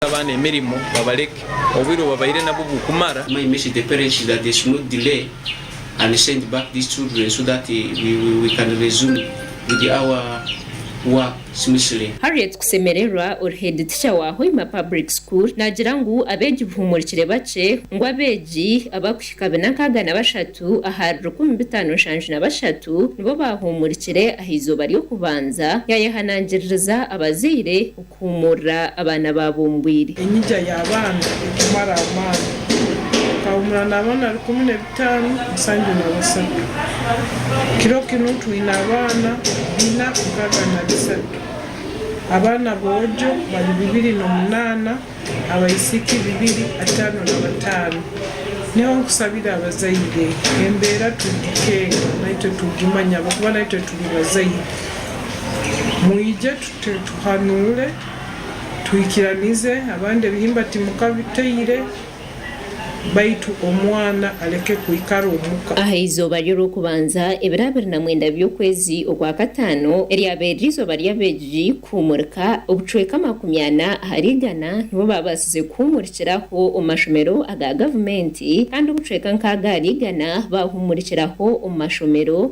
Bahe abaana emirimo babareke, obwire obubabaire nabwo bukumara. My message the parents is that they should not delay and send back these children so that we we we can resume with our work smoothly. Harriet Kusemererwa ori Head Teacher wa Hoima Public School nagira ngu abeegi buhumurikire bakye ngu abeegi abakuhika bina nkaaga na bashatu ahari rukumi bitaano nshanju na bashatu nibo baahumurikire aha eizooba ry'okubanza. Yaayehanangiririza abazaire Kuhuumurira abaana baabumbwire. Enyiga y'abaana ekumara amaani. Nkahuumura n'abaana rukumi n'ebitaano musanju na basatu. Kiro kinu twine abaana bina nkaaga na bisatu. Abaana boojo bari bibiri n'omunaana, abaisiiki bibiri ataano na bataano. Niho nkusabira abazaire, embeera turikukyenga naitwe tugimanye ahabw'okuba naitwe turi bazaire. Mwije. Tuhanuure, tuhikiranize abandi ebihimba timukabiteire, baitu omwana aleke kwikara omuka. Aha izooba ry'orw'okubanza, ebiro abiri na mwenda by'okwezi okwa kataano, eryabaire riri izooba ry'abeegi kuhuumurika, obucweka makumi ana ahari igana nibo baabaasize kuhuumurikiraho omu mashomero aga gavumenti, kandi obucweka nkaaga ahari igana baahuumurikiraho omu mashomero